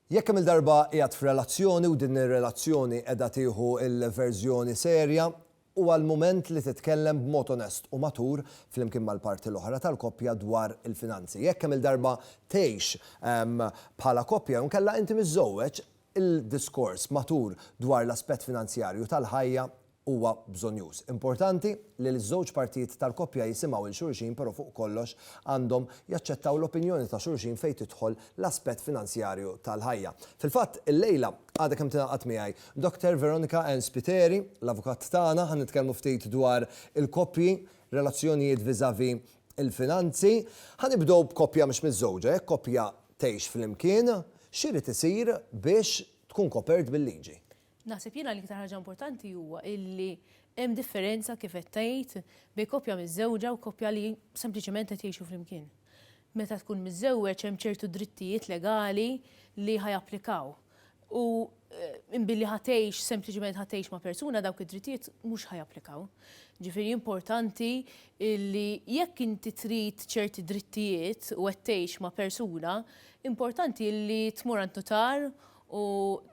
Jekk kemm-il darba qiegħed f'relazzjoni u din ir-relazzjoni qiegħda tieħu l-verżjoni serja, huwa l-mument li titkellem b'mod onest u matur flimkien mal-parti l-oħra tal-koppja dwar il-finanzi. Jekk kemm-il darba tgħix bħala koppja jew inkella inti miżżewweġ, il-diskors matur dwar l-aspett finanzjarju tal-ħajja huwa bżonnjuż. Importanti li l-żewġ partijiet tal-koppja jisimgħu 'l xulxin però fuq kollox għandhom jaċċettaw l-opinjoni ta' xulxin fejn tidħol l-aspett finanzjarju tal-ħajja. Fil-fatt, illejla, għadha kemm tingħaqad miegħi Dottor Veronica Ann Spiteri, l-avukat tagħna, ħa nitkellmu ftit dwar il-koppji, relazzjonijiet vis-à-vis il-finanzi. Ħa nibdew b'koppja mhux miżżewġa, jekk koppja tgħix flimkien, x'irid isir biex tkun kopert bil-liġi? Naħseb jiena l-iktar ħaġa importanti huwa illi hemm differenza kif qed tgħid bejn koppja miżżewġa u koppja li sempliċement qed jgħixu flimkien. Meta tkun miżżewweġ hemm ċertu drittijiet legali li ħa japplikaw. U billi ħa tgħix sempliċement ħa tgħix ma' persuna dawk id-drittijiet mhux ħa japplikaw. Ġifieri importanti illi jekk inti trid ċerti drittijiet u qed tgħix ma' persuna, importanti illi tmur għand nutar u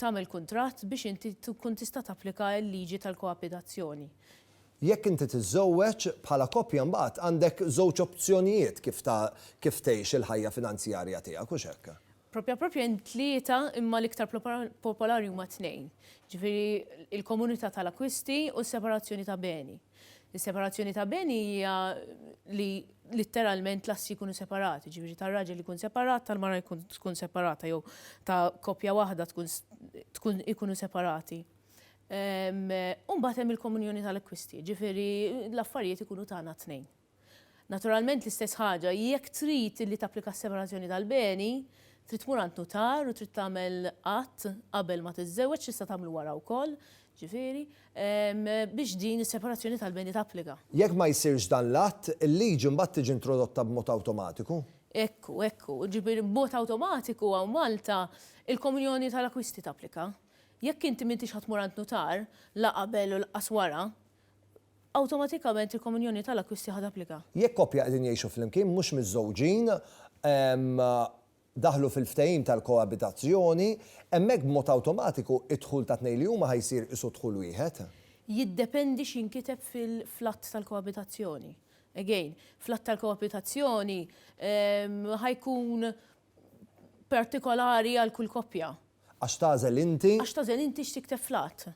tagħmel kuntratt biex inti tkun tista' tapplika l-liġi tal-koabitazzjoni. Jekk inti tiżżewweġ, bħala koppja mbagħad għandek żewġ opzjonijiet kif ta' kif tgħix il-ħajja finanzjarja tiegħek, hux hekk? Proprja proprja hemm tlieta imma l-iktar popolari huma tnejn, jiġifieri l-komunità tal-akkwisti u s-separazzjoni ta' beni. Is-separazzjoni ta' beni hija li litteralment l-assi jkunu separati, jiġifieri tar-raġel ikun separat, tal-mara tkun separata jew ta' koppja waħda tkun ikunu separati. U mbagħad hemm il-komunjoni tal-akkwisti, jiġifieri l-affarijiet ikunu tagħna t-tnejn. Naturalment l-istess ħaġa jekk trid li tapplika s-separazzjoni tal-beni, trid tmur għand nutar u trid tagħmel att qabel ma tiżżewweġ, tista' tagħmlu wara wkoll, ġifieri, biex din is-separazzjoni tal-beni tapplika. Jekk ma jsirx dan l-att, il-liġi mbagħad tiġi introdotta b'mod awtomatiku. Ekku, ekku. Ġifieri b'mod awtomatiku hawn Malta, il-komunjoni tal-akkwisti tapplika. Jekk inti m'intix ħa tmur għand nutar, la qabel u laqqas wara, Awtomatikament il-komunjoni ta' l-akkwisti ħa tapplika. Jekk koppja qegħdin jgħixu flimkien mhux miżżewġin daħlu fil-ftehim tal-koabitazzjoni, hemmhekk b'mod awtomatiku d-dħul tat-tnejn li huma ħa jsir isu dħul wieħed. Jiddependi x'inkiteb fl-att tal-koabitazzjoni. Again, fl-att tal-koabitazzjoni ħa jkun partikolari għal kull koppja. Għax tagħżel inti. Għax tagħżel inti x'tikteb fl-att.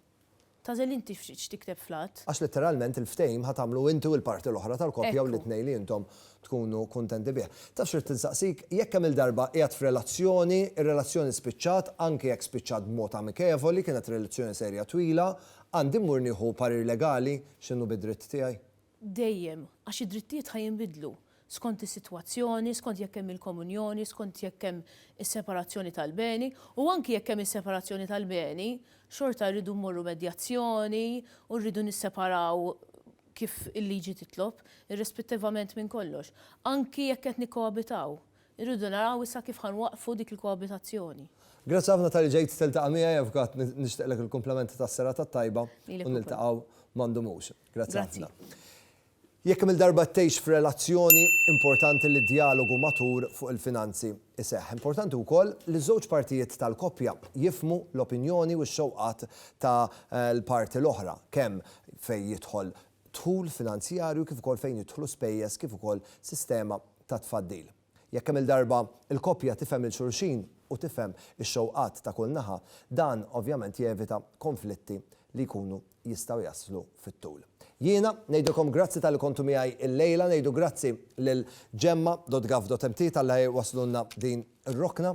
Tagħżel inti x'tikteb fl-att. Għax litteralment il-ftehim ħa tagħmlu inti u l-parti l-oħra tal-koppja u l-itnej li intom tkunu kuntenti bih. Taf x'ridt insaqsik, jekk kemm-il darba qiegħed f'relazzjoni, ir-relazzjoni spiċċat, anki jekk spiċċat b'mod amikevoli, kienet relazzjoni serja twila, għandi mmur nieħu parir legali x'inhu bid-dritt tiegħi? dejjem, għax id-drittijiet ħa jinbidlu skont is-sitwazzjoni, skont jekk hemm il-komunjoni, skont jekk hemm is-separazzjoni tal-beni, u anki jekk hemm is-separazzjoni tal-beni, xorta rridu mmorru medjazzjoni u rridu nisseparaw kif il-liġi titlob, irrispettivament minn kollox. Anki jekk qed nikkoabitaw, irridu naraw issa kif ħa nwaqqfu dik il-koabitazzjoni. Grazzi ħafna talli ġejt tiltaqa' miegħi, Avukat, nixtieqlek il-kumplament tas-serata t-tajba u niltaqgħu ma ndumux. Grazzi ħafna. Jekk kemm-il darba tgħix f'relazzjoni, importanti li d-djalogu matur fuq il-finanzi jseħħ. Importanti wkoll li ż-żewġ partijiet tal-koppja jifhmu l-opinjoni u x-xewqat ta' l-parti l-oħra, kemm fejn jidħol dħul finanzjarju kif ukoll fejn jidħlu spejjeż kif ukoll sistema ta' tfaddil. Jekk kemm-il darba l-koppja tifhem lil xulxin u tifhem ix-xewqat ta' kull naħa, dan ovvjament jevita konflitti li jkunu jistgħu jaslu fit-tul. Jiena ngħidilkom grazzi talli kontu miegħi llejla, ngħidu grazzi lil Gemma dot Gov dot MT talli wasslulna din ir-rokna.